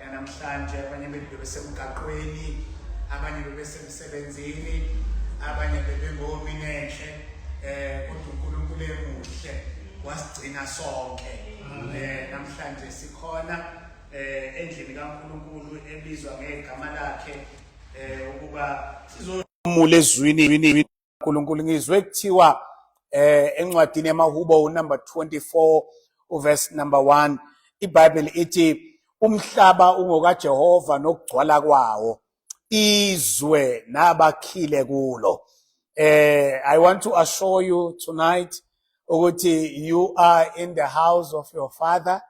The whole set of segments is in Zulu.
yanamhlanje abanye bethu bebesemgaqweni abanye bebesemsebenzini abanye bebengominenhle eh kodwa uNkulunkulu emuhle wasigcina sonke eh namhlanje sikhona eh endlini kaNkulunkulu ebizwa ngegama lakhe eh ukuba sizomule ezwini uNkulunkulu ngizwe kuthiwa eh encwadini yamahubo unumber 24 uverse number 1 iBible ithi umhlaba ungokaJehova nokugcwala kwawo izwe nabakhile kulo eh i want to assure you tonight ukuthi you are in the house of your father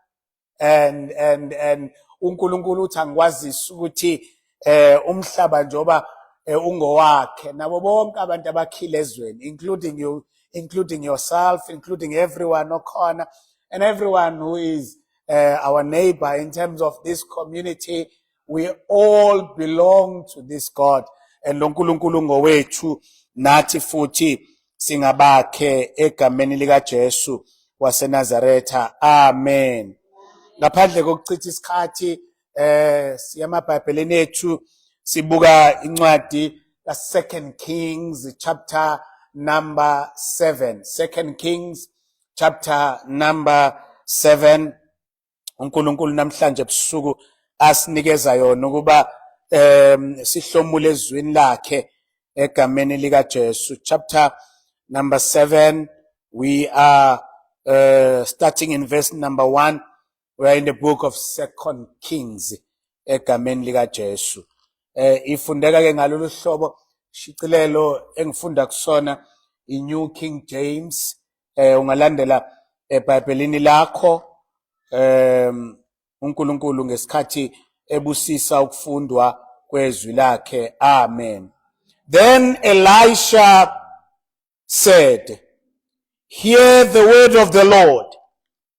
and and and uNkulunkulu uthi angikwazisi ukuthi eh umhlaba njoba eh, ungowakhe nabo bonke abantu abakhile ezweni including you including yourself including everyone okhona and everyone who is uh, our neighbor in terms of this community we all belong to this God and lo Nkulunkulu ngowethu nathi futhi singabakhe egameni lika Jesu waseNazaretha amen ngaphandle kokuchitha isikhathi eh siyamabhayibhelini ethu sibuka incwadi ka Second Kings chapter number 7 Second Kings chapter number 7 uNkulunkulu namhlanje ebusuku asinikeza yona ukuba um sihlomule ezwini lakhe egameni likaJesu chapter number 7 we are uh, starting in verse number 1 we are in the book of second kings egameni likaJesu eh ifundeka ke ngalolu hlobo shicilelo engifunda kusona iNew King James eh ungalandela eBhayibhelini lakho um uNkulunkulu ngesikhathi ebusisa ukufundwa kwezwi lakhe amen then Elisha said hear the word of the Lord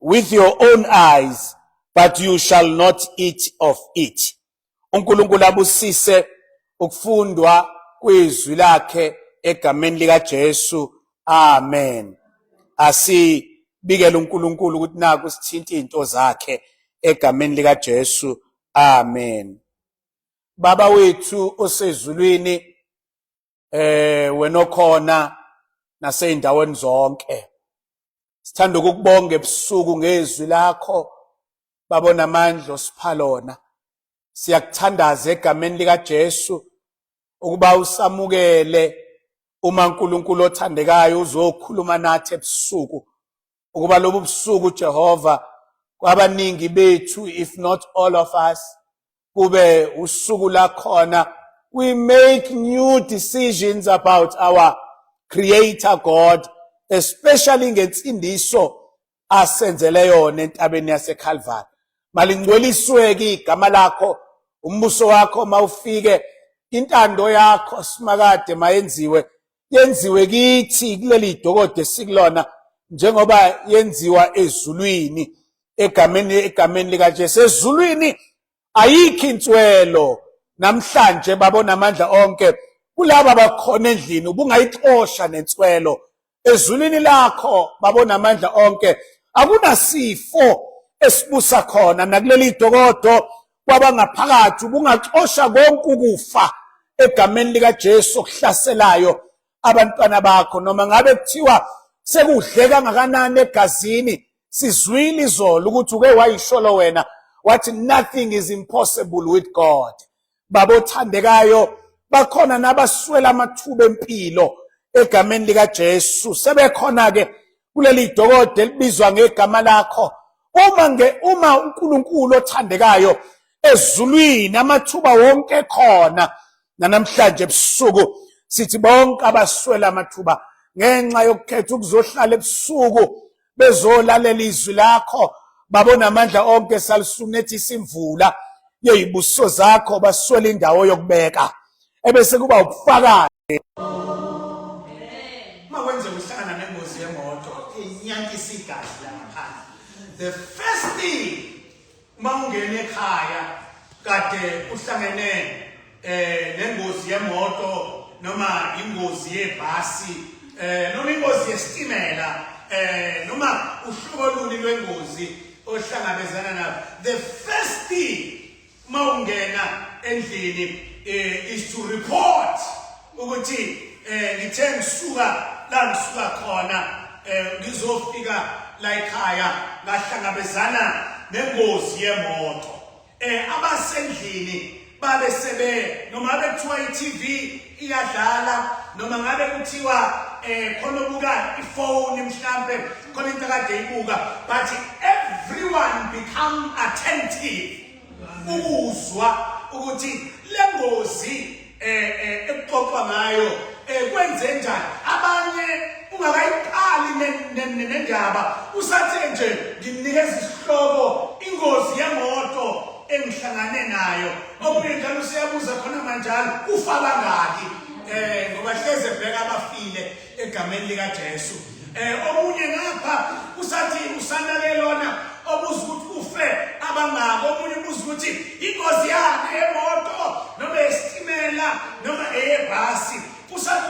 with your own eyes but you shall not eat of it uNkulunkulu abusise ukufundwa kwezwi lakhe egameni lika Jesu amen asibikele uNkulunkulu ukuthi naku sithinta izinto zakhe egameni lika Jesu amen baba wethu osezulwini eh wena okhona naseyindaweni zonke sithanda ukukubonga ebusuku ngezwi lakho babona amandla osipha lona siyakuthandaza egameni likaJesu ukuba usamukele uma uNkulunkulu othandekayo uzokhuluma nathi ebusuku ukuba lobu busuku Jehova kwabaningi bethu if not all of us kube usuku lakhona we make new decisions about our creator God especially ngensindiso asenzele yona entabeni yaseCalvary malingcwelisweke igama lakho umbuso wakho mawufike intando yakho simakade mayenziwe yenziwe kithi kuleli dokode esikulona njengoba yenziwa ezulwini egameni egameni likaJesu ezulwini ayikho inswelo namhlanje babona amandla onke kulaba bakhona endlini ubungayixosha nenswelo ezulwini lakho babona amandla onke akunasifo esibusa khona nakuleli dokodo kwabangaphakathi ubungaxosha konke ukufa egameni likaJesu okuhlaselayo abantwana bakho noma ngabe kuthiwa sekudle kangakanani egazini sizwile izolo ukuthi uke wayisholo wena wathi nothing is impossible with God baba othandekayo bakhona nabaswela amathuba empilo egameni likaJesu sebekhona ke kuleli dokode libizwa ngegama lakho uma nge uma uNkulunkulu othandekayo ezulwini amathuba wonke ekhona nanamhlanje ebusuku sithi bonke abaswela amathuba ngenxa yokukhetha ukuzohlala ebusuku bezolalela izwi lakho babona amandla onke salisunethi simvula yeyibuso zakho baswela indawo yokubeka ebese kuba ubufakazi uma wenze uhlangana nengozi yemoto inyantisa igazi langaphandle the first thing uma ungena ekhaya kade uhlangene eh nengozi yemoto noma ingozi yebhasi eh noma ingozi yesitimela eh noma uhlobo luni lwengozi ohlangabezana nalo the first thing uma ungena endlini eh, is to report ukuthi eh, ngithe ngisuka la ngisuka khona eh, ngizofika la ekhaya ngahlangabezana nengozi yemoto eh abasendlini babe sebe noma bekuthiwa i-TV iyadlala noma ngabe kuthiwa eh khona obuka ifone mhlambe khona into kade ibuka but everyone become attentive ukuzwa ukuthi lengozi eh, eh ekuxoxwa ngayo eh, kwenze njani abanye ungakayiqali nendaba usathe nje nginikeza isihloko ingozi yemoto engihlangane nayo Omunye njalo useyabuza khona manjalo ufa bangaki eh ngoba hleze bheka abafile egameni lika Jesu eh omunye ngapha usathi usana lelona obuza ukuthi ufe abangaki omunye ubuza ukuthi ingozi yakhe yemoto noma esitimela noma eyebhasi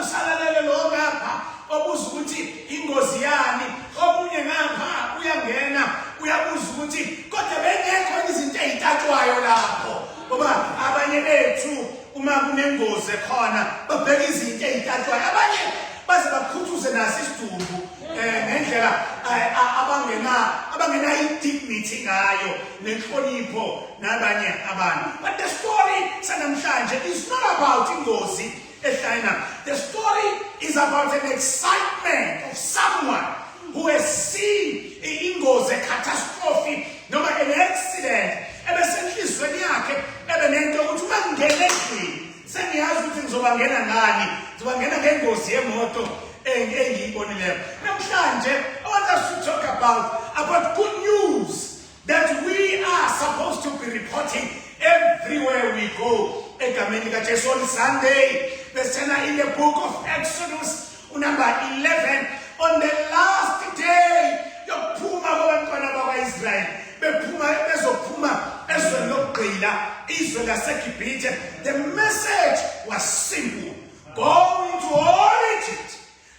usalalele lo ngapha obuza ukuthi ingozi yani omunye ngapha uyangena uyabuza ukuthi kodwa bengekho izinto ezitatshwayo lapho ngoba abanye bethu uma kunengozi khona babheka izinto ezitatshwayo abanye baze bakhuthuze nasi isidumbu eh ngendlela eh, abangena abangena indignity ngayo nenhlonipho nabanye abantu but the story sanamhlanje is not about ingozi ehlangana the story is about an excitement of someone who has seen ingozi a catastrophe noma an accident ebesenhlizweni yakhe ebe nento ukuthi uma ngingena endlini sengiyazi ukuthi ngizobangena ngani ngizobangena ngengozi yemoto engiyibonileyo namhlanje i want us to talk about about good news that we are supposed to be reporting everywhere we go egameni likajesu on sunday besithena in the book of exodus Unumber 11 on the last day yokuphuma kwabantwana bakwa-israyeli bephuma bezophuma ezweni lokugqila izwe laseGibhithe the message was simple go into all Egypt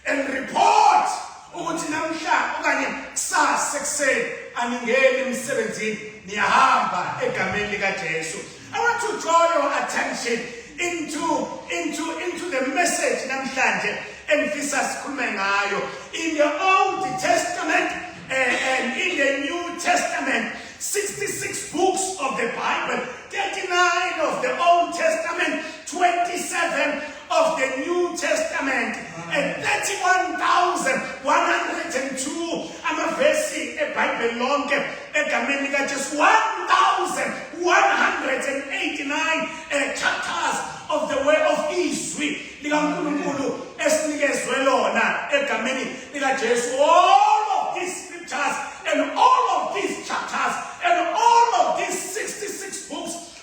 and report ukuthi namhla okanye kusasa ekuseni aningeni emsebenzini niyahamba egameni likaJesu I want to draw your attention into into into the message namhlanje engifisa sikhulume ngayo in the old testament and, eh, and in the new testament 66 books of the bible 39 of the old testament 27 of the new testament and 31102 amavesi ebhayibheli lonke egameni likajesu 1189 eh, chapters of the way of izwi likankulunkulu esinikezwe lona egameni likajesu all of these scriptures and all of these chapters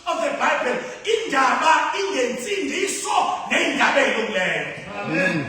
of the Bible indaba ingensindiso neyindaba elungileyo amen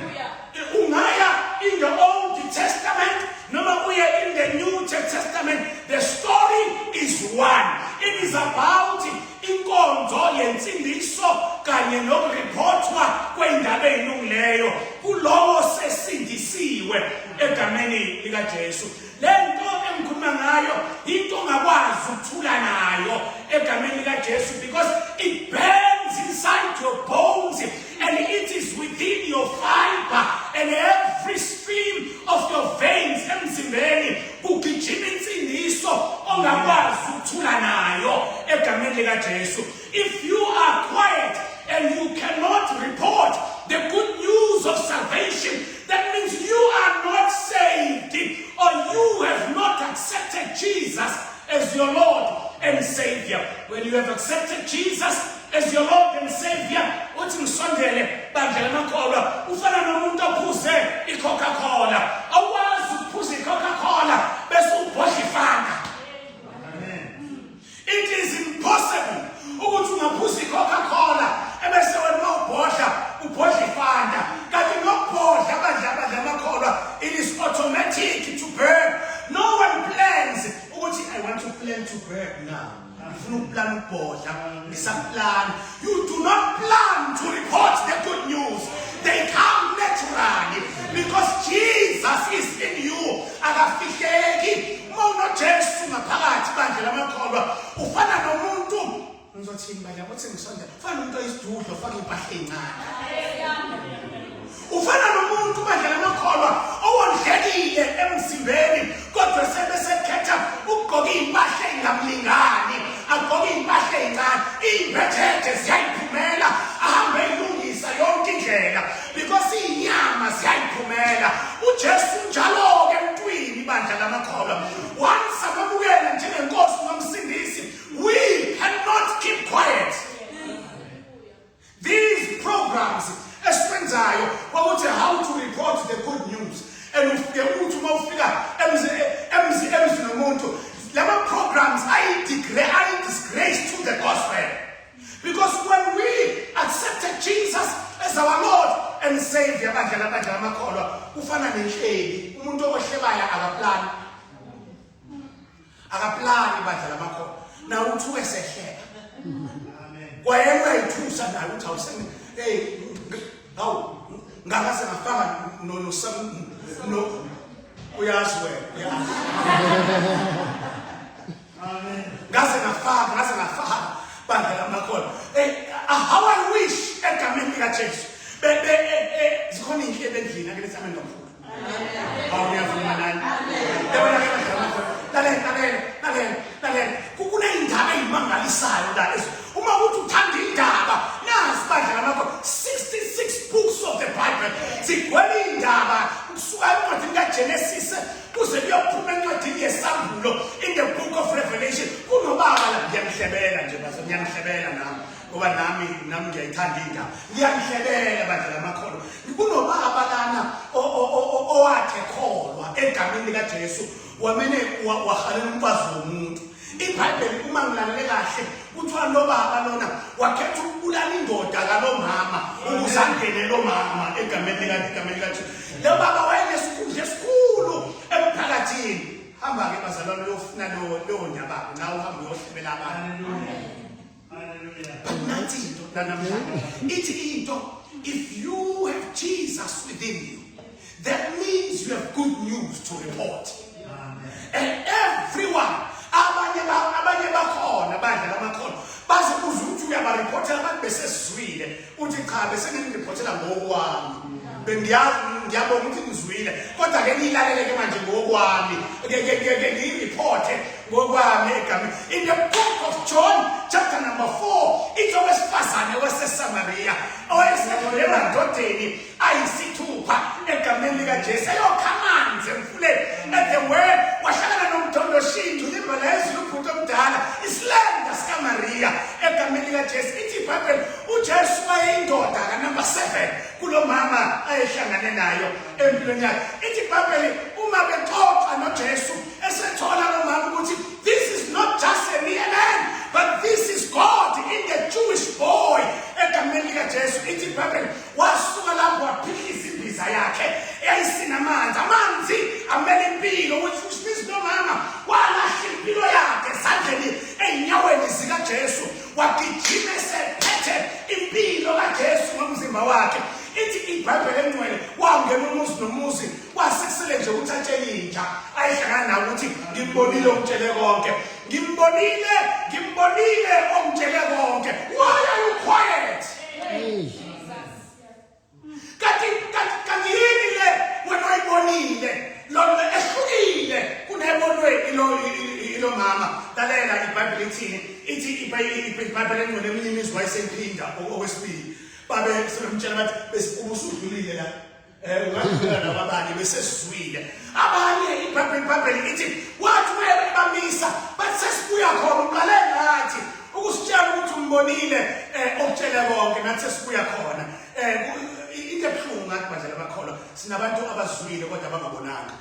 ungaya in the old testament noma uye in the new testament the story is one it is about inkonzo yensindiso kanye nokuriphothwa kwendaba elungileyo kulowo sesindisiwe egameni likaJesu Le nto engikhuluma ngayo into ongakwazi ukuthula nayo egameni likaJesu because it burns inside your bones and it is within your fiber and every stream of your veins emzimbeni kugijima insindiso ongakwazi ukuthula nayo egameni likaJesu If you are quiet and you cannot report the good news of salvation, that means you are not saved or you have not accepted Jesus as your Lord and Savior. When you have accepted Jesus as your Lord and Savior, uthi ngisondele bandla lamakholwa ufana nomuntu ophuze i-Coca-Cola. Awukwazi ukuphuza i-Coca-Cola bese ubhodla ifana. It is impossible ukuthi ungaphuza icoca cola ebese wena uma ubhodla ubhodla ifanta kanti nokubhodla abadla abadla amakholwa it is automatic to burn no one plans ukuthi i want to plan to burn now ngifuna ukuplana ukubhodla ngisaplana you do not plan to report the good news they come naturally because jesus is in you akafihleki uma unojesu ngaphakathi bandla lamakholwa ufana nomuntu ngizothini bandla kuthi ngisondela ufana nomuntu oyisidudlo ufake impahla encane ufana nomuntu bandla lamakholwa owondlekile emzimbeni kodwa sebe sekhetha ukugqoka iy'mpahla ey'ngamlingani agqoke iy'mpahla ey'ncane iy'mbethethe ziyayiphumela ahambe eyilungisa yonke indlela because inyama ziyayiphumela uJesu njalo ke mntwini bandla lamakholwa once amamukela njengenkosi nomsindisi we cannot keep quiet these programs esiwenzayo kwakuthi how to report the good news and ufike uthi uma ufika emzi emzi emzi nomuntu lama programs ayi degree ayi disgrace to the gospel Because when we accepted Jesus as our Lord and Savior, abadlala abadlala amakholwa kufana nenhleli umuntu okwehlebayo akaplani akaplani badlala amakholwa na uthi wesehleka kwayena uyayithusa naye uthi awusene hey ngawu ngakaze ngafanga no no sam no uyazi wena uyazi ngaze ngafaka ngaze ngafaka bandla lamakhola eh, ah, how i wish egameni likajesu zikhona iyinhle ebendlini ake lesame nomfula awu ngiyavuma nani yabona ke bandla lamakhola lalela lalela lalela lalela kuneyindaba eyimangalisayo la uma kuthi uthanda indaba nazi bandla lamakhola 66 books of the bible zigwele indaba kusuka encwadini kagenesis kuze kuyophuma encwadini yesambhulo in the book of revelation kunobaba la ngiyangihlebela nje baze ngiyangihlebela nami ngoba nami nami ngiyayithanda indaba ngiyangihlebela bandla lamakhono kunobaba lana owakhe kholwa egameni likajesu wamene wahalela umfazi womuntu ibhayibheli uma ngilalele kahle kuthiwa lo baba lona wakhetha ukubulala indoda kalo mama ukuze angene lo mama egameni likagameni kathi lo baba wayenesikhundla esikhulu emphakathini hamba-ke bazalwane uyofuna leyo nyabako nawe uhambe uyohlebela abantu nansi into nanamhlanje ithi into if you have jesus within you that means you have good news to report and everyone abanye abanye bakhona badla lamakhona bazokuza ukuthi uyabariphothela abantu besesizwile uthi cha besenginiriphothela ngokwami bengiyabonga ukuthi ngizwile kodwa ke nilaleleke manje ngokwami ke ngiyiriphote ngokwami egameni in the book of john chapter number 4 ithi owesifazane wasesamariya owayesedlulela ndodeni ayisithupha egameni likaJesu eyokha amanzi emfuleni at the well wahlangana nomthondo shindu limba lezulu ubhuti omdala isilanda sikaMaria egameni likaJesu ithi iBhayibheli uJesu wayeyindoda kanumber 7 kulomama ayehlangane nayo empilweni yakhe ithi iBhayibheli uma bexoxa noJesu esethola lomama ukuthi this is not just a mere man but this is God in the Jewish boy egameni likaJesu ithi iBhayibheli wasuka lapho waphihliza imbiza yakhe eyayisinamanzi amanzi amele impilo which which means nomama walahla impilo yakhe esandleni ey'nyaweni zikajesu wagijima esephethe impilo kajesu ngomzimba wakhe ithi ibhayibheli engcwele wangena umuzi nomuzi wasekusele nje ukuthi atshele intsha ayihlangana nawo ukuthi ngikubonile okutshele konke ngimbonile ngimbonile ongitshele konke why are you quiet kanti kanti kanti yini le wena oyibonile lona ehlukile kunebonweni lo ilo mama lalela ibhayibheli ithini ithi ibhayibheli engcwele eminye imizwa isemphinda okwesibili babe sebemtshela bathi besibusa udlulile la abanye besesizwile abanye ibhayibheli ithi wathi uma ebamisa bathi sesibuya khona uqale ngathi ukusitshela ukuthi umbonile um okutshele konke nathi sesibuya khona um into ebuhlungu ngathi badlala bakholwa sinabantu abazwile kodwa abangabonanga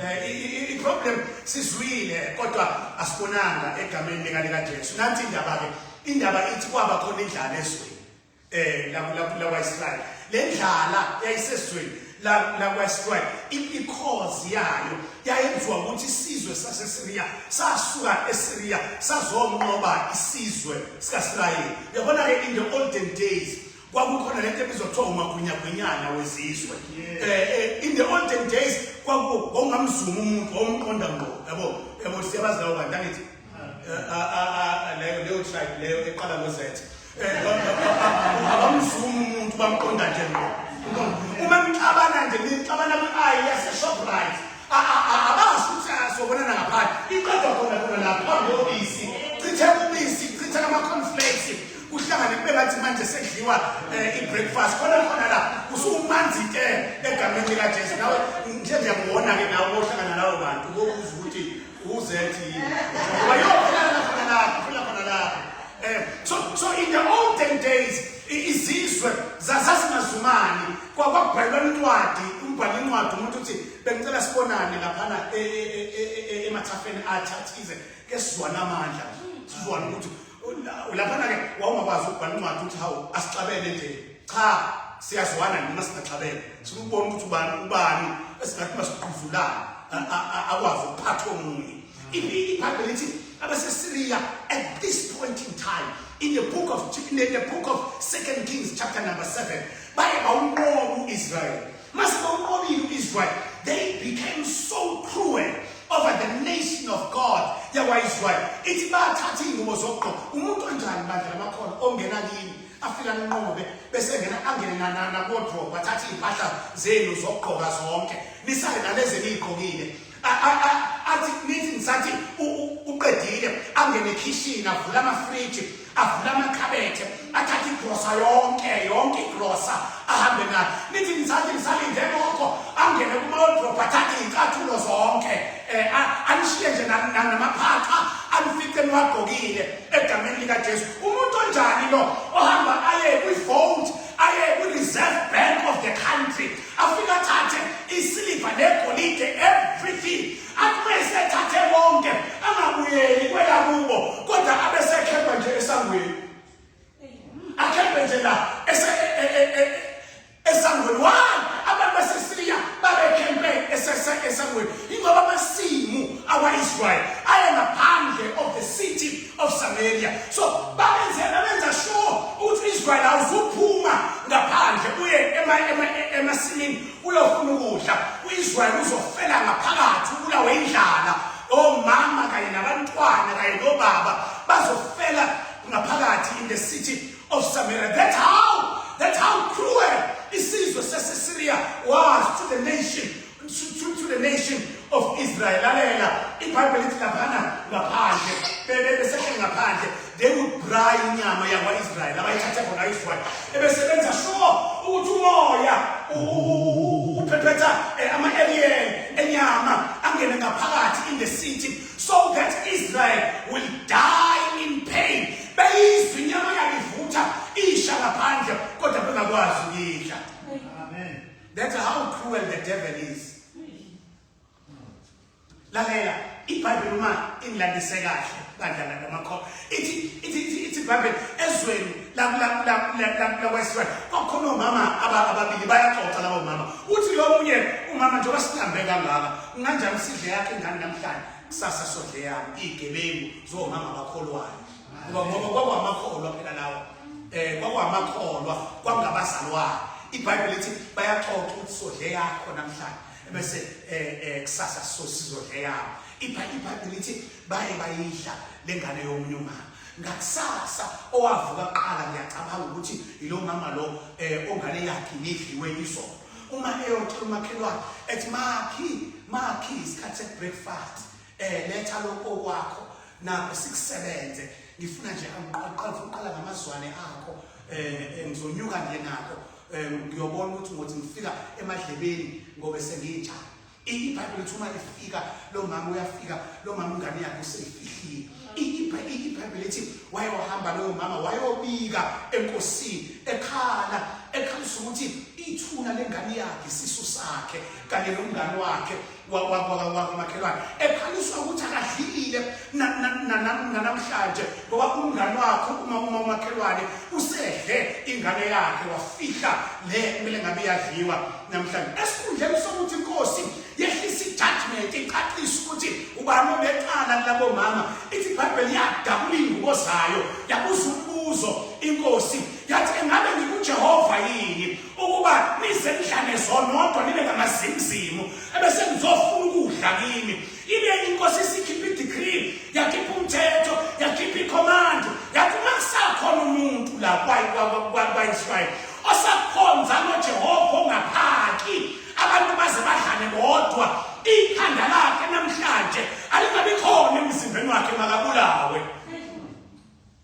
Eh, iproblem sizwile kodwa asibonanga egameni likaJesu nanti indaba ke indaba ithi kwaba khona indlala ezweni eh lakwaIsrael lendlala yayisezweni lakwaIsrael i-cause yayo yayenziwa ukuthi isizwe saseSiriya sasuka eSiriya sazonqoba isizwe sikaSirayeli yabona ke in the olden days kwakukhona lento ebizwa kuthiwa umagunyagwinyana wezizwe eh, eh in the olden days kwakungamzuma umuntu omqonda ngqo yabo yabo siyabazi lawo bantu angithi leyo leyo tribe leyo eqala ngozethe abamzumi umuntu bamqonda nje ngqo uma nixabana nje nixabana kwi-ayi yaseshoprite abazi ukuthi sobonana ngaphandle iqedwa khona khona lapho phambi kobisi chithe ubisi chithe ama-conflakes kuhlangane kube ngathi manje sekudliwa um eh, i-breakfast khona khona la usumanzi ke egameni likajesu nawe nje nje ngona-ke nawe ohlangana lawo bantu kokuza ukuthi uzethi wayofana khona lapho funa khona lapho eh so so in the olden days izizwe zasasingazumani kwakwabhalwa incwadi umbhala incwadi umuntu uthi bengicela sibonane laphana e, e, e, emathafeni athathize ke sizwana amandla sizwana ukuthi Ulaphana-ke wawungakwazi ukubhala incwadi ukuthi hawu asixabene nje cha siyazwana noma singaxabene sifuna ukubona ukuthi ubani ubani esingathi masiquzulana akwazi ukuphatha omunye ibhayibheli lithi abasesiriya at this point in time in the book of in the book of second kings chapter number 7 baye bawunqoba uisrael Mase bawunqobile uIsrael, they became so cruel over the nation of God yakwaIsrael. Ithi bathatha izingubo zokugqoka. Umuntu onjani bandla labakhona ongena kini afika anqobe bese ngena angene nanana kodwa bathatha izimpahla zenu zokugqoka zonke. Nisale nalezi niyigqokile. athi nithi ngisathi uqedile angene ekhishini avula amafriji avula amakhabethe athathe igrosa yonke yonke igrosa ahambe nayo nithi ngisathi ngisalinde lokho angene kuma-wardrobe athathe iy'cathulo zonke um anishiye nje namaphaqa anifice niwagqokile egameni likajesu umuntu onjani lo ohamba aye kwi-vote aye kwi-reserve bank of the country afike athathe isiliva negolide everything akume esethathe konke angabuyeli kwelakubo kodwa abe sekhemba nje esangweni akhembe nje la e, e, e, esangweni why abantu basesiriya babekhempe esangweni ingoba amasimu awa-israyeli ayengaphandle of the city of Samaria so babenzela benza sure ukuthi Israel awuzuphuma ngaphandle uye ema ema emasimini uyofuna ukudla uIsrael uzofela ngaphakathi ubulawe indlala omama kanye nabantwana kanye nobaba bazofela ngaphakathi in the city of Samaria that's how that's how cruel isizwe saseSyria was to the nation to, to the nation of Israel. Lalela, iBhayibheli lithi laphana ngaphandle, besehleli ngaphandle, they would braai inyama yakwa-Israyeli abayithathe khona ayizwayo. Ebesebenza sure ukuthi umoya uphephetha eh, ama-alien enyama angene ngaphakathi in the city so that Israel will die in pain. Beyizwa inyama yakivutha isha ngaphandle kodwa bengakwazi ukuyidla. That's how cruel the devil is. Lalela, iBhayibheli uma ingilandise kahle bandla lamakhoba. Ithi ithi ithi ithi iBhayibheli ezweni lakwesizwe kwakhona omama ababili bayaxoxa labo mama. Uthi lo munye umama njengoba sihambe kangaka, unganjani sidle yakhe ingane namhlanje? Kusasa sodle yami igebengu zomama bakholwayo. ngoba ngoba kwakungamakholwa phela lawa eh kwakungamakholwa kwakungabazalwane ibhayibheli lithi bayaxoxa ukuthi sodle yakho namhlanje bese eh, eh kusasa sosizodle yakho ibhayibheli lithi baye bayidla lengane yomunye umama ngakusasa owavuka kuqala ngiyacabanga ukuthi yilo mama lo eh ongane yakhe nidliwe isona uma eyotshela umakhelwane ethi makhi makhi isikhathi se breakfast eh letha lokho kwakho nakho sikusebenze ngifuna nje angiqala uqala ngamazwane akho eh, eh ngizonyuka nje nakho eh, ngiyobona ukuthi ngothi ngifika emadlebeni ngobe senginjani ibhayibheli lithi uma lifika lo mama uyafika lo mama ingane yakhe useyifihlile ibhayibheli lithi wayohamba loyo mama wayobika enkosini ekhala ekhalisa ukuthi ithuna lengane yakhe isisu sakhe kanye nomngane wakhe wakomakhelwane ekhaliswa ukuthi akadlile nanamhlanje ngoba umngane wakhe uma uma umakhelwane usedle ingane yakhe wafihla le kumele ngabe iyadliwa namhlanje esikhundleni sokuthi inkosi yehlisa ijudgment iqaqisa ukuthi ubani obecala labo mama ithi ibhayibheli yadabula iy'ngubo zayo yabuza umbuzo inkosi yathi engabe ngikujehova yini ukuba nize nihlale zonodwa nibe ngamazimzimu ebese nizofuna ukudla kimi ibe inkosi isikhipha i-decree yakhipha umthetho yakhipha i-command yathi uma kusakhona umuntu la kwaisrayeli osakhonza nojehova ongaphaki abantu baze badlale bodwa ikhanda lakhe namhlanje alingabi khona emzimbeni wakhe makabulawe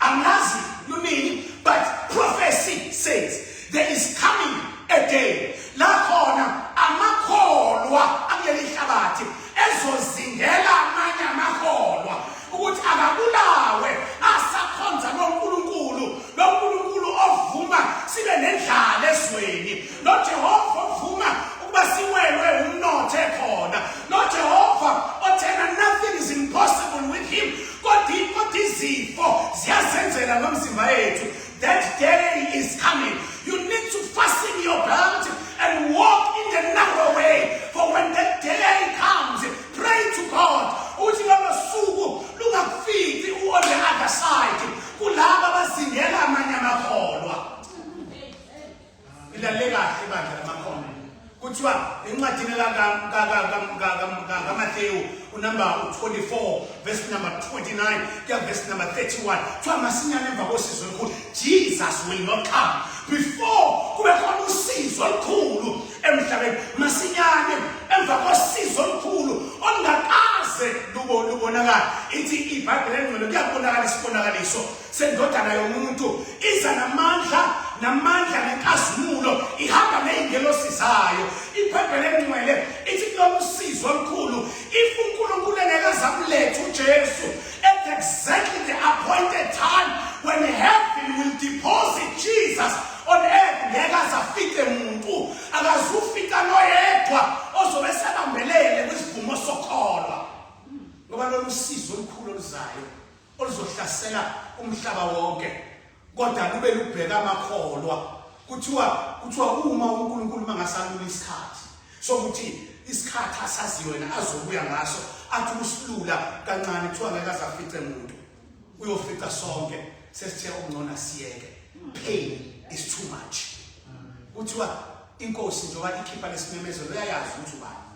angazi lunini but prophecy says there is coming a day la khona amakholwa akuleli hlabathi ezozingela amanye amakholwa ukuthi akabulawe asakhonza noNkulunkulu noNkulunkulu ovuma sibe nendlala ezweni noJehova ovuma ukuba siwelwe umnotho ekhona noJehova othena nothing is impossible with him Kodwa kodwa izifo ziyasenzela nomzimba yethu. That day is coming. You need to fasten your belt and walk in the narrow way. For when that day comes, pray to God. Uthi lolo suku lungakufiki u on the other side. Kulaba bazingela amanye amakholwa. Ilalele kahle bandla lamakhono. Kuthiwa encwadini kaMathewu unumber 24 verse number 29 kuya verse number 31 kuthiwa masinyane emva kosizo olukhulu Jesus will not come before kube khona usizo olukhulu emhlabeni masinyane emva kosizo olukhulu olungakaze lubonakala ithi ibhayibhile engcwele kuyabonakala isibonakaliso sendodana yomuntu iza namandla namandla nenkazimulo ihamba ney'ngelosi zayo ibhayibheli elingcwele ithi kulolu sizo olukhulu if unkulunkulu engeke zakuletha ujesu at exactly the appointed time when heaven will deposit jesus on earth ngeke azafike muntu akazufika noyedwa ozobe sebambelele kwisivumo sokholwa ngoba lolu sizo olukhulu oluzayo oluzohlasela umhlaba wonke kodwa lube lubheka amakholwa kuthiwa kuthiwa uma uNkulunkulu mangasalula isikhathi sokuthi isikhathi asaziyo yena azobuya ngaso athi usilula kancane kuthiwa ngeke azafice muntu uyofica sonke sesithe okungcona siyeke pain is too much kuthiwa inkosi njengoba ikhipha lesimemezelo uyayazi ukuthi ubani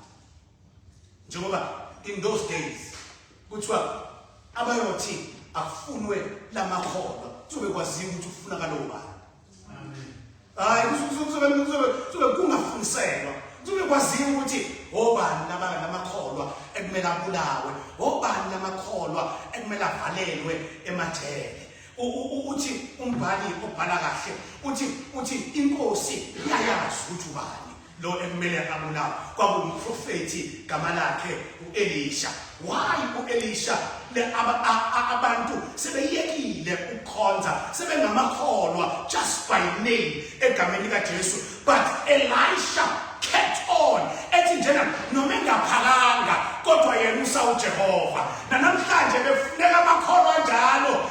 njengoba in those days kuthiwa abayothi akufunwe lamakholwa kuzobe kwaziwa ukuthi ufuna kalowo bani hayi kuzobe kungafundiselwa kuzobe kwaziwa ukuthi obani labala lamakholwa ekumele abulawe obani lamakholwa ekumele avalelwe emajele uthi umbhali obhala kahle uthi uthi inkosi iyayazi ukuthi ubani Lo ekumele abulawe kwakuwumprofethi gama lakhe uElisha. Why uElisha? Le aba- a- a- abantu sebeyekile ukukhonza sebengamakholwa just by name egameni likaJesu but Elisha kept on ethi njena noma engaphakanga kodwa yena usawuJehova nanamhlanje befuneka amakholwa njalo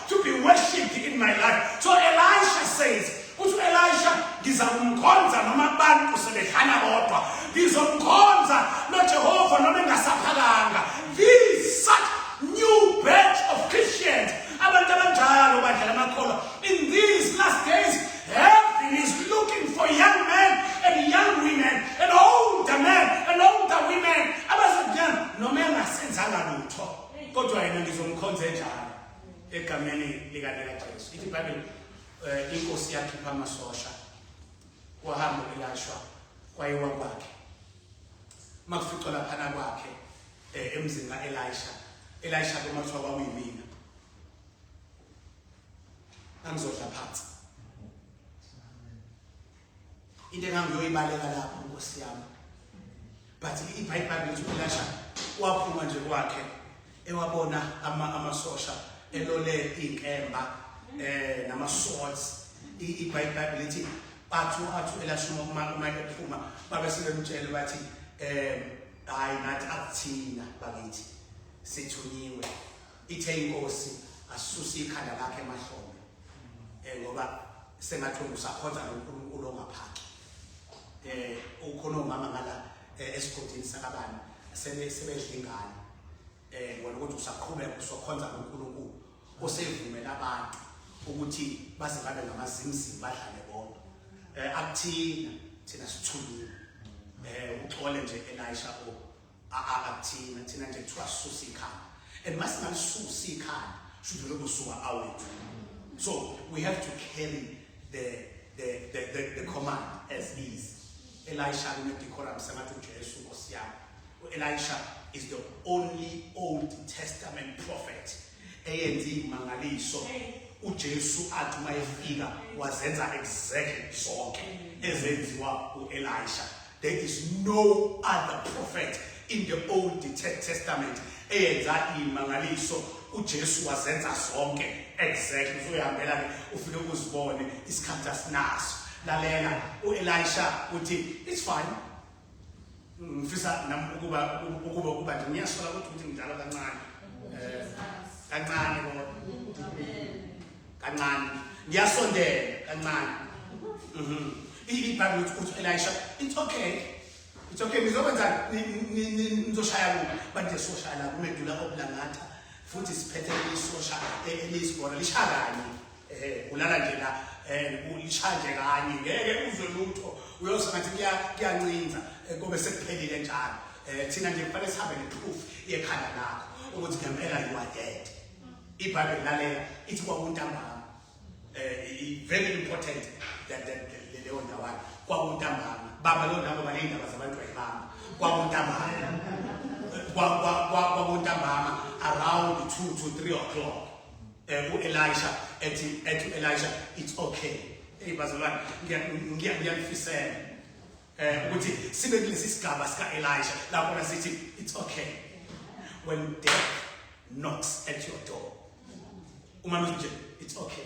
to be worshipped in my life. So Elisha says, uthi Elisha ngiza kumkhonza noma abantu sebehlala bodwa. Ngizomkhonza noJehova noma engasaphakanga. These such new batch of Christians abantu abanjalo badlala amakholwa in these last days heaven is looking for young men and young women and older men and older women abazokunyana noma engasenzanga lutho kodwa yena ngizomkhonza enjalo egameni likaNekaJesu ithi ibhayibheli um inkosi yakhipha amasosha wahamba ukulashwa kwayiwa kwakhe uma kuficwa laphana kwakhe um emzini ka-elisha elisha ke uma kuthiwa kwakuyimina angizodla phansi into engangiyoyibaleka lapho nkosi yami but ibhayibhayibheli lithi ulasha waphuma nje kwakhe ewabona amasosha elole iy'nkemba um eh, nama-swords ibhayibhayibheli lithi bathu athu elashuma uma ephuma babe sebemtshele bathi um hhayi nathi akuthina bakithi sithunyiwe ithe inkosi asuse ikhanda lakhe emahlombe eh ngoba sengathi usakhonza noNkulunkulu ongaphaki eh ukhona umama ngala eh, esigodini sakabani sebe sebedla ingane eh wona ukuthi usaqhubeka usokhonza noNkulunkulu osevumela abantu ukuthi baze babe ngamazimzimi badlale bonke eh akuthina thina sithulile eh uxole nje Elisha o akathina thina nje kuthiwa susa ikhanda and uma singalisusa ikhanda shudule kusuka awethu so we have to carry the the the, the, the command as is elisha kunedecorum sengathi ujesu nkosi yami uelisha is the only old testament prophet eyenza imangaliso uJesu athi uma efika wazenza exactly zonke ezenziwa uElisha there is no other prophet in the old testament eyenza imangaliso uJesu wazenza zonke exactly uzoyihambela ke ufike uzibone isikhathi asinaso lalela uElisha uthi it's fine ngifisa nami ukuba ukuba ukuba nje ngiyasola ukuthi ukuthi ngidlala kancane eh, kancane kodwa kancane ngiyasondela kancane mhm. ibhayibhile ukuthi uthi elisha it's okay it's okay nizokwenza nizoshaya kuba but nje soshaya la kumedula obulangatha futhi siphethe isosha e-, eliyisibona lishaya kanye eh kulala nje la eh ulishanje kanye ngeke uzwe lutho uyoze ngathi kuya kuyancinza eh, kube sekuphelile njalo eh thina nje kufanele sihambe neproof yekhanda lakho ukuthi ngempela you are dead ibhayibheli lalela ithi kwakuntambama eh very important that that leyo ndawana kwakuntambama baba lo ndawo balindaba zabantu ayibamba kwakuntambama kwakuntambama around 2 to 3 o'clock eh, u-elisha ethi ethi u-elisha it's okay eyi bazalwane ngiyakufisela um ukuthi sibe kulesi sigaba sika-elisha lakhona sithi it's okay when death knocks at your door uma nje it's okay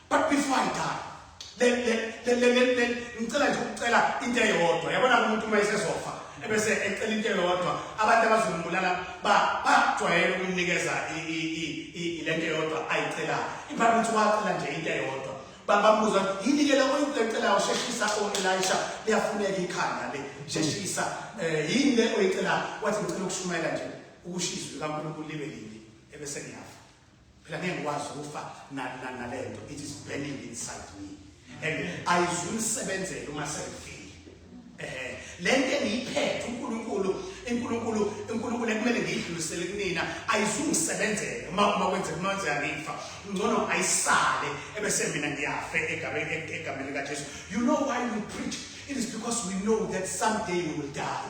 but before i die ngicela nje ukucela into eyodwa yabona umuntu uma esezofa ebese ecela into eyodwa abantu abazombulala bajwayele ukumnikeza le nto eyodwa ayicelayo ibhayibhile ukuthi wacela nje into eyodwa bambuza yini ke lokho into ecelayo sheshisa o-elisha liyafuneka ikhanda le sheshisa um yini le oyicelayo wathi ngicela ukushumayela nje ukushiza likankulunkulu libe lini ebese ngiyafa phela ngeke ngikwazi ukufa nalento it is burning inside me and ayizuyisebenzela uma sengifile eh lento engiyiphethe uNkulunkulu inkulunkulu inkulunkulu ekumele ngiyidlulisele kunina ayizungisebenzele uma uma kwenzeka uma kwenzeka ngifa ngcono ayisale ebese mina ngiyafe egameni egameni likaJesu you know why we preach it is because we know that someday we will die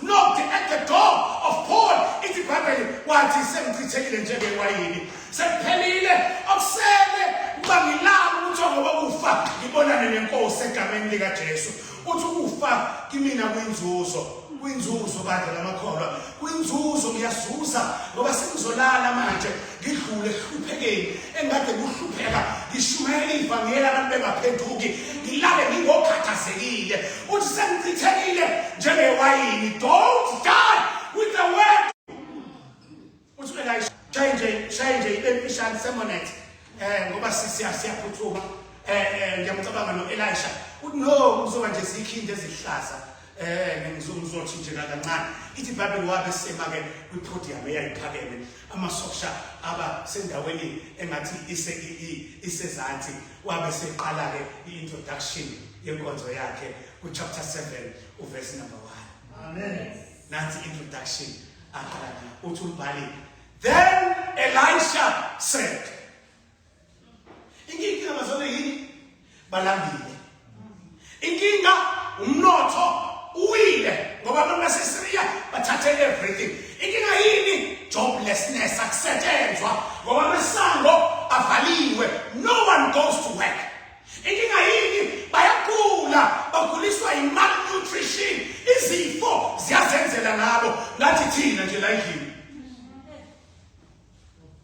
knocked at the door of Paul ithi ibhayibheli wathi sengichithekile njengewayini sekuphelile okusele ukuba ngilala ukuthi ongokokufa ngibonane nenkosi egameni likajesu uthi ukufa kimina kwinzuzo kwinzuzo bandla lamakholwa kwinzuzo ngiyazuza ngoba sengizolala manje ngidlule ehluphekeni engade kuhlupheka ngishumayela ivangeli abantu bengaphenduki ngilale ngingokhathazekile uthi sengichithekile njengewayini don't die with the word uthi uelisha shaye nje shaye nje ibe mfishane semonet um ngoba siyaphuthuma um ngiyamcabanga no-elisha uthi no uzoba nje zikhindi ezihlaza Eh ngizothi nje kancane ithi iBhayibheli wabe semake kwi-podium eyayiphakeme amasosha aba sendaweni engathi ise isezansi wabe seqala ke i-introduction yenkonzo yakhe ku-chapter 7 uverse number 1 amen nansi introduction aqala uthi umbhali then elisha said Inkinga abazona yini? Balambile. Inkinga umnotho uwile ngoba abantu baseSyria bathathe everything. Inkinga yini? Joblessness akusetshenzwa ngoba amasango avaliwe. No one goes to work. Inkinga yini? Bayagula, baguliswa yimalnutrition. Izifo ziyazenzela ngabo. Ngathi thina nje la endlini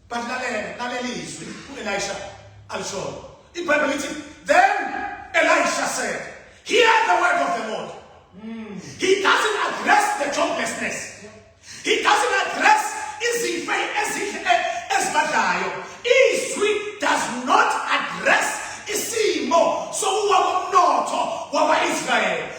but lalela lalela izwi uElisha alishoyo iBhayibheli lithi then Elisha said hear the word of the Lord mm. he doesn't address the joblessness he doesn't address izife ezihle ezibadlayo izwi does not address isimo sokuwa komnotho wakwa-israyeli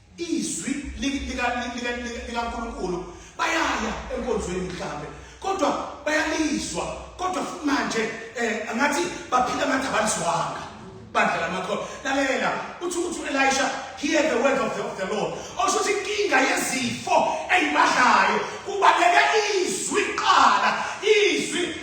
izwi likaNkulunkulu bayaya enkonzweni mhlambe kodwa bayalizwa kodwa futhi manje eh angathi baphila ngathi abalizwanga bandla lamakholwa lalela uthi uthi uElisha hear the word of the, of the Lord osho ukuthi inkinga yezifo eyibadlayo kubaleka izwi qala izwi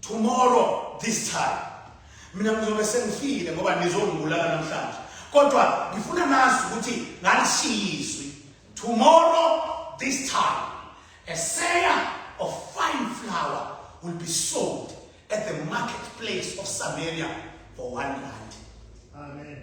tomorrow this time mina ngizobe sengifile ngoba nizongibulala namhlanje kodwa ngifuna nazi ukuthi ngalishiyizwi tomorrow this time a sayer of fine flour will be sold at the marketplace of Samaria for one rand. Amen.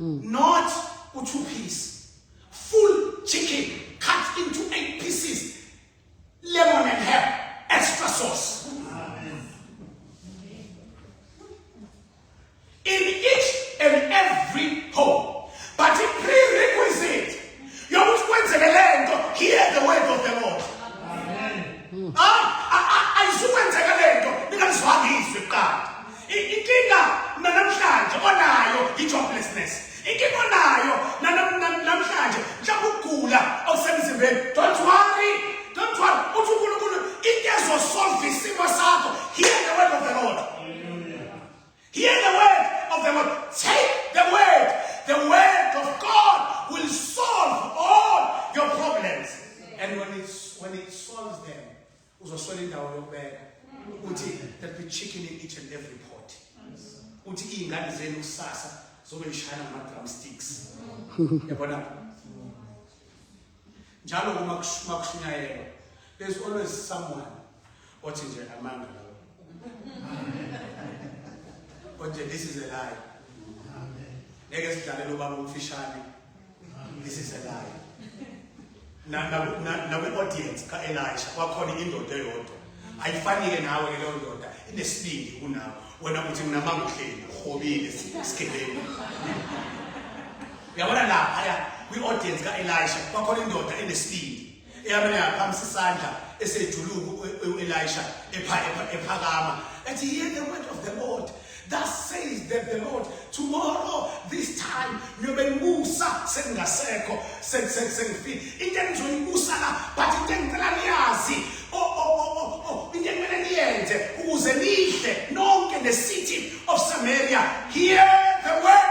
mm. not u two piece full chicken cut into eight pieces lemon and herb extra sauce in each and every home but the prerequisite yokuthi kwenzeke lento hear the word of the lord amen ah, ah, ah, ayisukwenzeka lento ningalizwanga izwi kuqala inkinga nanamhlanje onayo i-joblessness inkinga onayo namhlanje mhlawumbe ukugula okusemzimbeni don't worry don't worry uthi unkulunkulu into ezosolva isimo sakho hear the word of the lord hear the word of the lord take the word the word of god will solve all your problems and when, it's, when it solves them uzoswela indawo yokubeka ukuthi that be chicken in each and every pot uthi iy'ngane zenu kusasa zobe lishayana ngama-drum sticks yabona njalo uma kushunyayelwa there's always someone othi nje amanga lawo othi this is a lie ngeke sidlalele ubaba omfishane this is a lie na na na, na we audience ka Elisha kwakhona indoda eyodwa ayifanike nawe ke leyo ndoda inesibindi kunawe wena uthi mina mangihleli hobile sigebeni uyabona lapha ya kwi audience ka Elisha kwakhona indoda enesibindi Eyamele yaphamisa isandla esejuluku u-Elisha ephakama ethi hear the word of the Lord Thus says that the Lord, tomorrow this time niyobengibusa sengingasekho sengifile. Into engizoyibusa la but into engicela niyazi oh, oh, oh, oh, into ekumele niyenze ukuze nidle nonke the city of Samaria. Hear the word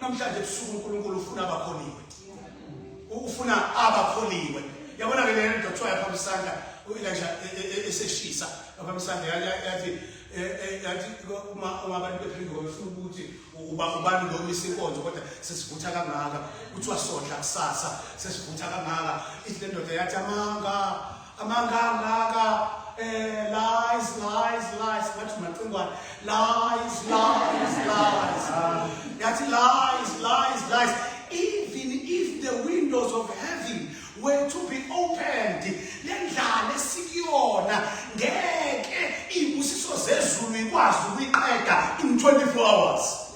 namhlanje ebusuku uNkulunkulu ufuna abakholiwe ufuna abakholiwe yabona ke lento kuthiwa yaphambi isandla uyilanja e, e, e, eseshisa yaphambi isandla yathi yathi uma uma abantu bephindwa befuna ukuthi uba ubani lo misa inkonzo kodwa sesivutha kangaka kuthiwa sodla kusasa sesivutha kangaka ithi lendoda yathi amanga amanga ngaka eh lies lies lies ngathi macingwane lies lies lies yathi lies lies lies even if the windows of heaven were to be opened lendlala esikuyona ngeke ibusiso zezulu ikwazi ukuyiqeda in 24 hours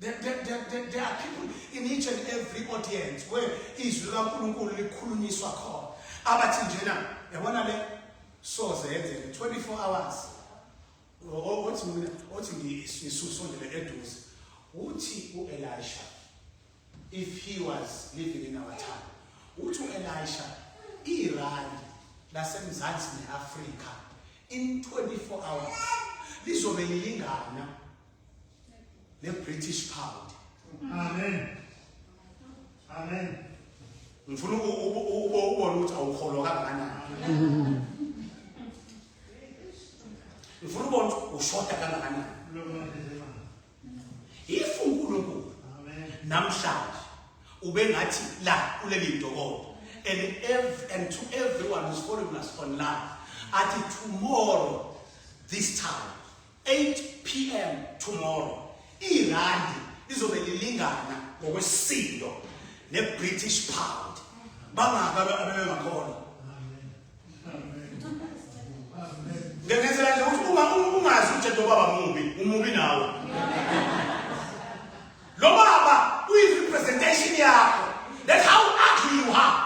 There, there, there, there are people in each and every audience where izwi likaNkulunkulu likhulunyiswa khona abathi njena yabona le soze yenzeke 24 hours othi mina othi ngisusondele eduze uthi uElisha if he was living in our time uthi uElisha iRand lasemzansi neAfrika in 24 hours lizobe lilingana ne British pound amen amen ngifuna ukubona ukuthi awukholwa kangakanani ngifuna ubona ukuthi ushoda kangakanani if unkulunkulu namhlanje ubengathi la kuleli ntokodo and, ev and to everyone who's following us online athi tomorrow this time 8 pm tomorrow irandi lizobe lilingana ngokwesisindo nebritish pound bangaka abebengakhona ngengenzela nje ukuthi uma ungazi ukuthi njengoba bamubi umubi nawe Lo baba uyi representation yakho. That's how ugly you are.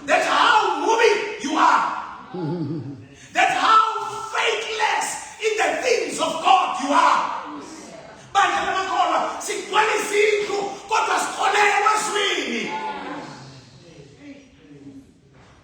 That's how movie you are. That's how faithless in the things of God you are. Bandla lamakholwa sigcwala izindlu kodwa sikholelwa ezwini.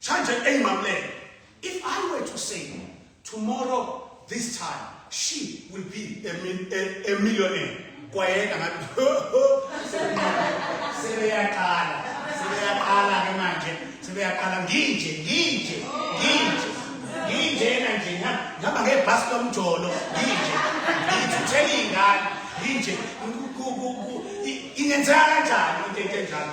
Chanje ey mamlele. If I were to say tomorrow this time she will be a, mil, a, a millionaire kwayena ngathi sebeyaqala sebeyaqala ke manje sebeyaqala nginje nginje nginje nginjena nje ngihamba ngebhasi lomjolo nginje ngithuthela iy'ngane nginje ingenzeka kanjani into enjalo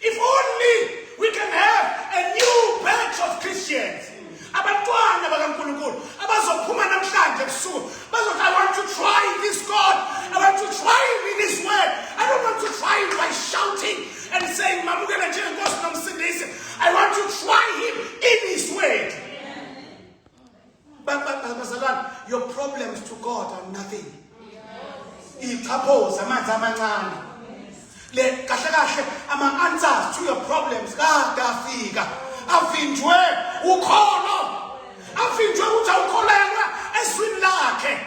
If only we can have a new batch of Christians. Abantwana bakaNkulunkulu abazophuma namhlanje ebusuku bazothi I want to try this God. I want to try him in his word. I don't want to try him by shouting and saying mamukela njengenkosi nomsindisi. I want to try him in his word. bazalwane your problems to god are nothing ichaphoza amanzi amancane le kahle kahle ama-answers to your problems kade afika avinjwe ukholo avinjwe ukuthi awukholelwa ezwini lakhe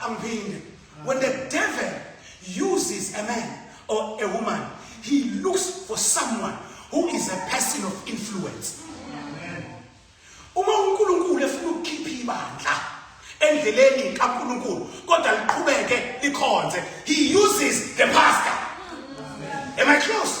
Angiphinde. When the devil uses a man or a woman, he looks for someone who is a person of influence. Uma uNkulunkulu efuna ukukhipha ibandla endleleni kaNkulunkulu kodwa liqhubeke likhonze, he uses the pastor. Am I close?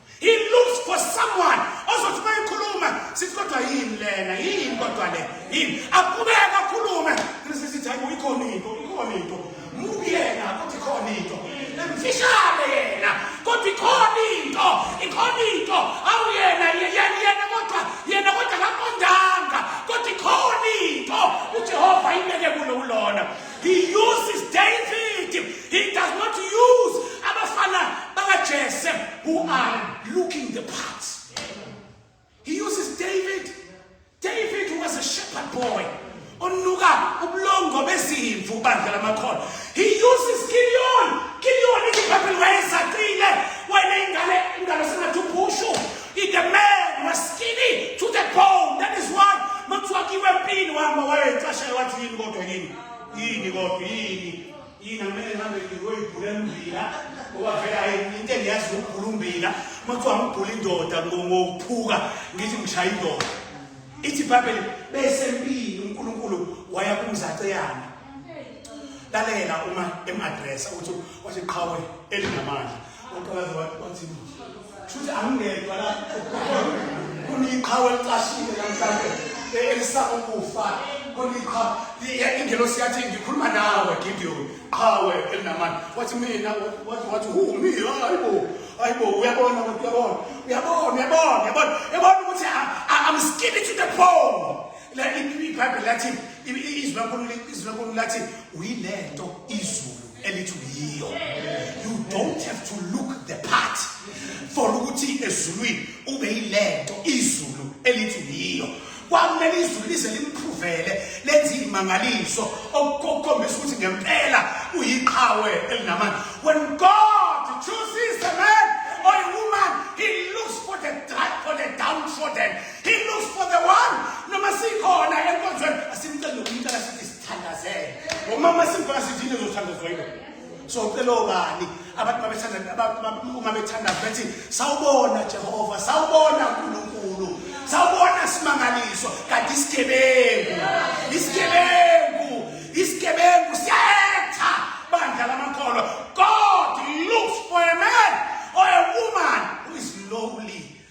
He looks for someone ozothi mayikhuluma sithi kodwa yini lena yini kodwa le yini aqhubeka akhulume ngise sithi hayi uyikhona into ikhona into mubi yena ukuthi khona into emfishane yena kodwa ikhona into ikhona into awu yena yena yena kodwa yena kodwa akaqondanga kodwa ikhona into uJehova imele kulo ulona He uses David. He does not use abafana bakaJese who are looking the part. He uses David. David was a shepherd boy. onuka ubulongo bezimvu bandla lamakhono he uses Gideon Gideon iziphambili wayezaqile wayene ingane ingane sengathi uphushu If the man was skinny to the bone, that is why mekuthiwakiwe empini wama wayecashela wathi yini kodwa yini yini kodwa yini yini akumele ngihambe ngiyoyibhula embila ngoba vele hayi into engiyazi ukubhula umbila mekuthiwa ngibhula indoda ngokuphuka ngithi ngishaya indoda ithi ibhayibheli besempini unkulunkulu waya kumzaceyana lalela uma emadresa ukuthi wathi qhawe elinamandla uqalaza wathi wathi shuthi angingedwa la kuniqhawe licashile namhlanje elisaba ukufa kuniqhawe ingelosi yathi ngikhuluma nawe gideon qhawe elinamandla wathi mina wathi wathi hu mi hayibo hayibo uyabona kodwa uyabona uyabona uyabona uyabona uyabona ukuthi i'm skinny to the bone la ibhayibheli lathi izwi lankulunkulu lathi uyilento izulu elithi uyiyo you don't have to look the part for ukuthi ezulwini ube yilento izulu elithi uyiyo kwamele izulu lize limphuvele lenze imangaliso okukhombisa ukuthi ngempela uyiqhawe elinamandla when god chooses a man or a woman he looks for the for the downtrodden he looks for the one noma sikhona enkonzweni asimcele umuntu akasithi thandazele ngomama simfana sithi into ezothandazwa yilo so ucela obani abantu babethanda uma bethandaza bethi sawubona jehova sawubona nkulunkulu sawubona simangaliso kanti isigebengu isigebengu isigebengu siyayetha bandla lamakholwa god looks for a man or a woman who is lowly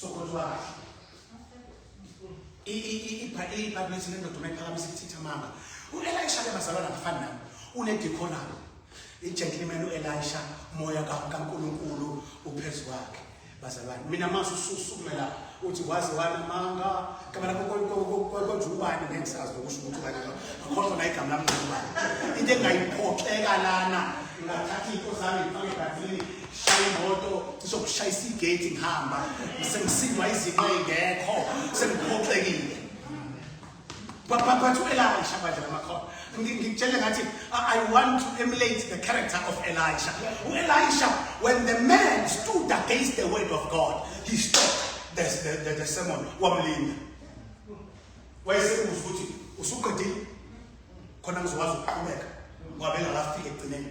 sokhothiwa kahle ibhayibhisi nendoda uma iphakamisa ithitha mama uelisha ke bazalwana ngafani nami unedikhonabo ijenkilimeni uelisha moya kankulunkulu uphezu kwakhe bazalwane mina mase ususukumela uthi waze wanamanga gama lakho konje ubani ngeke sazi nokusho ukuthi ubani akhohlwa na igama lami ngubani into engayiphoxeka lana ngathatha iy'nto zami ngifake ebhadilini shaya imoto cishe ukushayisa igate ngihamba sengisindwa izinto ey'ngekho sengiphoxekile bathu elisha badla lamakhona ngikutshele ngathi i want to emulate the character of elisha u-elisha when the man stood against the word of god he stopped the, the, the, the sermon wamlinda wayesebuza ukuthi usuqedile khona ngizokwazi ukuqhubeka ngoba bengakafiki ekugcineni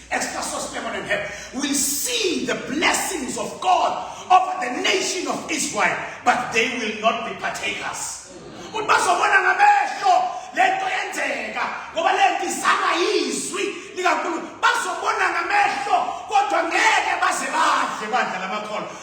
Extra sauce, lemon, and herb. We see the blessings of God over the nation of Israel, but they will not be partakers. Ukuthi bazobona ngamehlo le nto yenzeka ngoba le nto izama yizwi likaNkulunkulu. Bazobona ngamehlo kodwa ngeke baze badle bandla lamakholwa.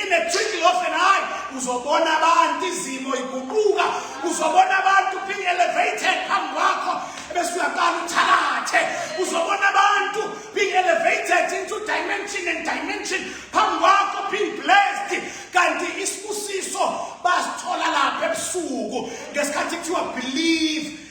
In the twinkle of an eye, uzobona abantu izimo iguquka, uzobona abantu being elevated phambi kwakho bese uyaqala uthakathe. Uzobona abantu being elevated into dimension and dimension phambi kwakho being blessed. Kanti isibusiso basithola lapha ebusuku ngesikhathi kuthiwa believe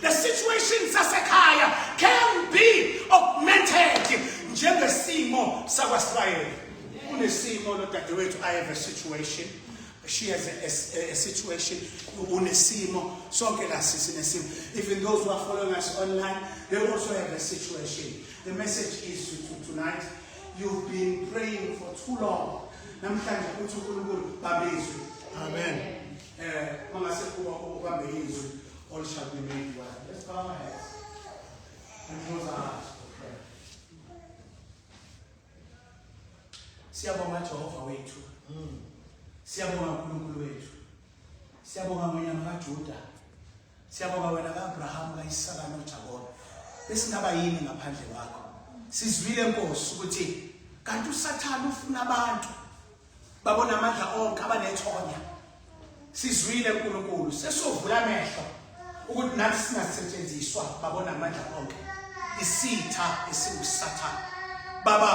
The situation sasekhaya can be augmented njengesimo sakwaSirayeli. Kunesimo lodadewethu I have a situation she has a, a, a situation unesimo sonke la sisi nesimo even those who are following us online they also have a situation the message is to, to tonight you've been praying for too long namhlanje uthi uNkulunkulu babizwe amen eh mangase kuba ubambe izwi All shall be made well. Let's bow our heads and close our eyes for prayer. Siyabonga Jehova wethu. Mm. Siyabonga uNkulunkulu wethu. Siyabonga wena makaJuda. Siyabonga wena kaAbraham, kaIsaka noJakobe. Besingaba yini ngaphandle kwakho? Sizwile Nkosi ukuthi kanti uSathane ufuna abantu babona amandla onke abanethonya sizwile uNkulunkulu sesovula amehlo ukuthi nathi singasetshenziswa babona amandla onke isitha esiwusathana baba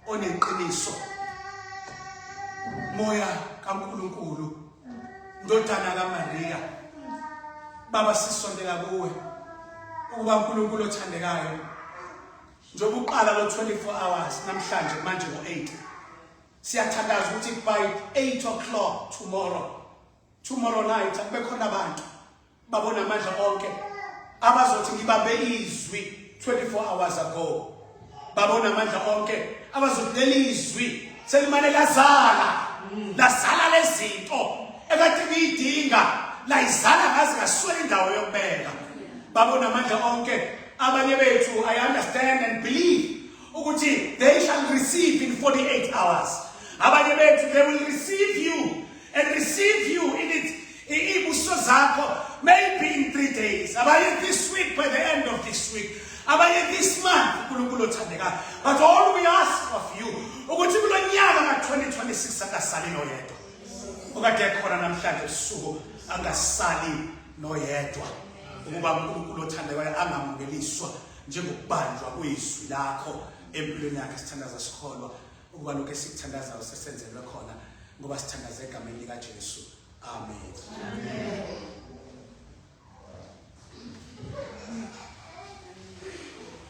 oneqiniso moya kaNkulunkulu ndodana kaMaria baba sisondela kuwe ukuba uNkulunkulu othandekayo Njengoba uqala lo 24 hours namhlanje manje ngo 8. Siyathandaza ukuthi by 8 o'clock tomorrow. Tomorrow night akube khona abantu babona amandla onke abazothi ngibambe izwi 24 hours ago. Babona amandla onke abazothi leli izwi selimane lazala lazala lezinto ekade kuyidinga layizala ngazi ngaswela indawo yokubeka. Babona amandla onke Abanye bethu I understand and believe ukuthi they shall receive in 48 hours. Abanye bethu they will receive you and receive you in it ibuso zakho maybe in 3 days. Abanye this week by the end of this week. Abanye this month uNkulunkulu othandekayo. But all we ask of you ukuthi kulonyaka ka 2026 akasali noyedwa. Okade khona namhlanje usuku angasali noyedwa. ukuba uNkulunkulu othandekayo angamukeliswa njengokubanjwa kwezwi lakho empilweni yakhe sithandaza sikholwa ukuba lokho esikuthandazayo sesenzelwe khona ngoba sithandaza egameni likaJesu amen amen